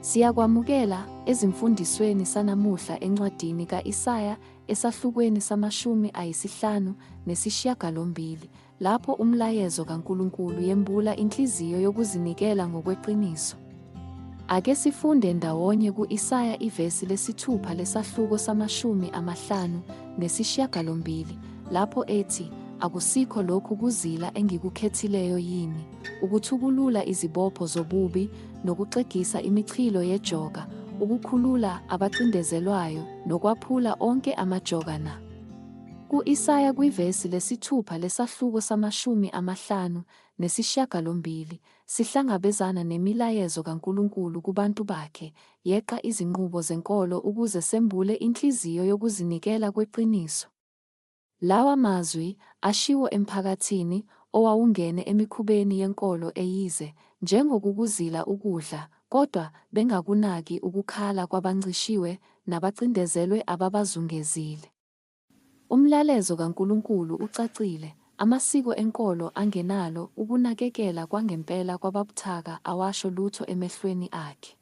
Siyakwamukela ezimfundisweni sanamuhla encwadini ka-Isaya esahlukweni samashumi ayisihlanu nesishiyagalombili lapho umlayezo kaNkulunkulu yembula inhliziyo yokuzinikela ngokweqiniso. Ake sifunde ndawonye ku-Isaya ivesi lesithupha lesahluko samashumi amahlanu nesishiyagalombili lapho ethi, Akusikho lokhu kuzila engikukhethileyo yini, ukuthukulula izibopho zobubi nokuxegisa imichilo yejoka, ukukhulula abacindezelwayo nokwaphula onke amajoka na? Ku-Isaya kwivesi lesithupha lesahluko samashumi amahlanu nesishiyagalombili, sihlangabezana nemilayezo kaNkulunkulu kubantu bakhe, yeqa izinqubo zenkolo ukuze sembule inhliziyo yokuzinikela kweqiniso. Lawa mazwi ashiwo emphakathini owawungene emikhubeni yenkolo eyize, njengokukuzila ukudla, kodwa bengakunaki ukukhala kwabancishiwe nabacindezelwe ababazungezile. Umlalezo kaNkulunkulu ucacile, amasiko enkolo angenalo ukunakekela kwangempela kwababuthaka awasho lutho emehlweni akhe.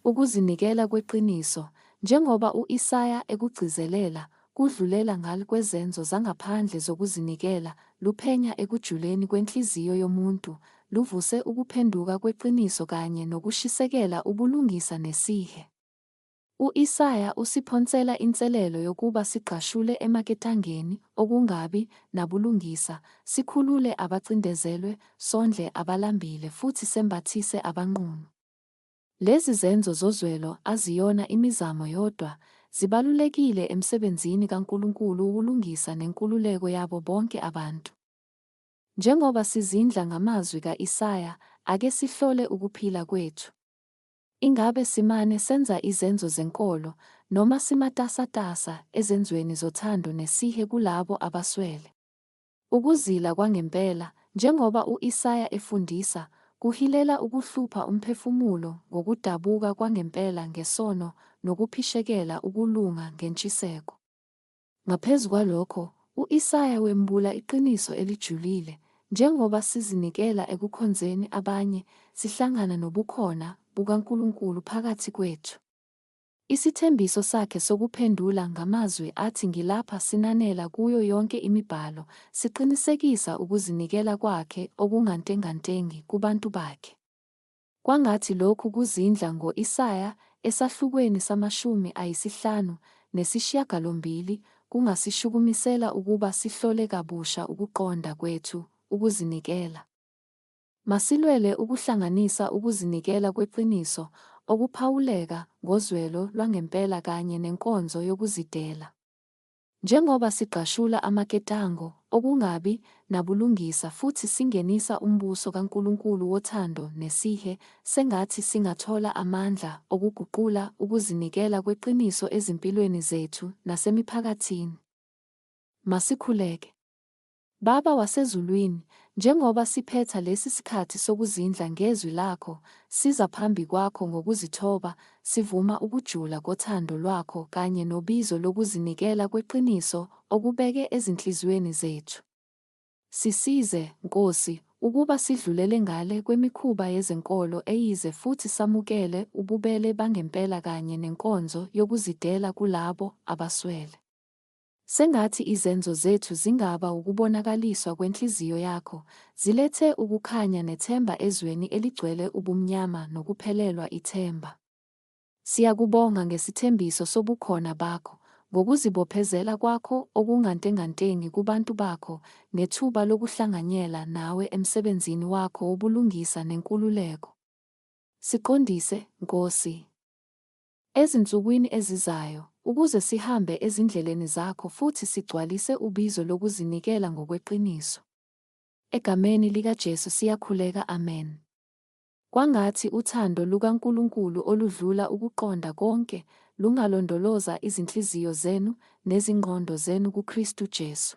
Ukuzinikela kweqiniso, njengoba u-Isaya ekugcizelela, kudlulela ngal kwezenzo zangaphandle zokuzinikela, luphenya ekujuleni kwenhliziyo yomuntu, luvuse ukuphenduka kweqiniso kanye nokushisekela ubulungisa nesihe. U-Isaya usiphonsela inselelo yokuba sigqashule emaketangeni okungabi nabulungisa, sikhulule abacindezelwe, sondle abalambile futhi sembathise abanqunu. Lezi zenzo zozwelo aziyona imizamo yodwa, zibalulekile emsebenzini kaNkulunkulu wokulungisa nenkululeko yabo bonke abantu. Njengoba sizindla ngamazwi ka-Isaya, ake sihlole ukuphila kwethu. Ingabe simane senza izenzo zenkolo, noma simatasatasa ezenzweni zothando nesihe kulabo abaswele? Ukuzila kwangempela, njengoba u-Isaya efundisa, kuhilela ukuhlupha umphefumulo ngokudabuka kwangempela ngesono nokuphishekela ukulunga ngentshiseko. Ngaphezu kwalokho, u-Isaya wembula iqiniso elijulile, Njengoba sizinikela ekukhonzeni abanye, sihlangana nobukhona bukaNkulunkulu phakathi kwethu. Isithembiso sakhe sokuphendula ngamazwi athi ngilapha sinanela kuyo yonke imibhalo, siqinisekisa ukuzinikela kwakhe okungantengantengi kubantu bakhe. Kwangathi lokhu kuzindla ngo Isaya esahlukweni samashumi ayisihlanu nesishiyagalombili kungasishukumisela ukuba sihlole kabusha ukuqonda kwethu ukuzinikela. Masilwele ukuhlanganisa ukuzinikela kweqiniso, okuphawuleka ngozwelo lwangempela kanye nenkonzo yokuzidela. Njengoba sigqashula amaketango okungabi nabulungisa futhi singenisa uMbuso kaNkulunkulu wothando nesihe, sengathi singathola amandla okuguqula ukuzinikela kweqiniso ezimpilweni zethu nasemiphakathini. Masikhuleke. Baba waseZulwini, njengoba siphetha lesi sikhathi sokuzindla ngeZwi laKho, siza phambi kwaKho ngokuzithoba, sivuma ukujula kothando lwaKho kanye nobizo lokuzinikela kweqiniso okubeke ezinhliziyweni zethu. Sisize, Nkosi, ukuba sidlulele ngale kwemikhuba yezenkolo eyize futhi samukele ububele bangempela kanye nenkonzo yokuzidela kulabo abaswele. Sengathi izenzo zethu zingaba wukubonakaliswa kwenhliziyo yakho, zilethe ukukhanya nethemba ezweni eligcwele ubumnyama nokuphelelwa ithemba. Siyakubonga ngesithembiso sobukhona bakho, ngokuzibophezela kwakho okungantengantengi kubantu bakho, ngethuba lokuhlanganyela nawe emsebenzini wakho wobulungisa nenkululeko. Siqondise, Nkosi. Ezinsukwini ezizayo, ukuze sihambe ezindleleni zakho futhi sigcwalise ubizo lokuzinikela ngokweqiniso. Egameni likaJesu siyakhuleka, amen. Kwangathi uthando lukaNkulunkulu oludlula ukuqonda konke lungalondoloza izinhliziyo zenu nezingqondo zenu kuKristu Jesu.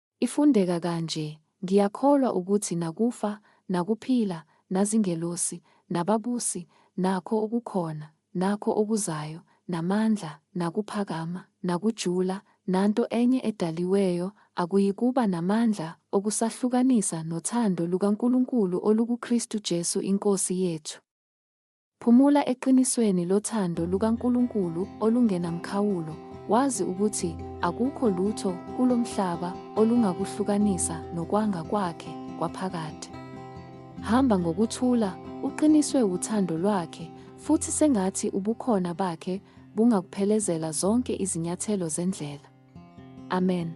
Ifundeka kanje, Ngiyakholwa ukuthi nakufa, nakuphila, nazingelosi, nababusi, nakho okukhona, nakho okuzayo, namandla, nakuphakama, nakujula, nanto enye edaliweyo, akuyikuba namandla okusahlukanisa nothando lukaNkulunkulu olukuKristu Jesu iNkosi yethu. Phumula eqinisweni lothando lukaNkulunkulu olungenamkhawulo, wazi ukuthi akukho lutho kulo mhlaba olungakuhlukanisa nokwanga kwakhe kwaphakade. Hamba ngokuthula, uqiniswe wuthando lwakhe, futhi sengathi ubukhona bakhe bungakuphelezela zonke izinyathelo zendlela. Amen.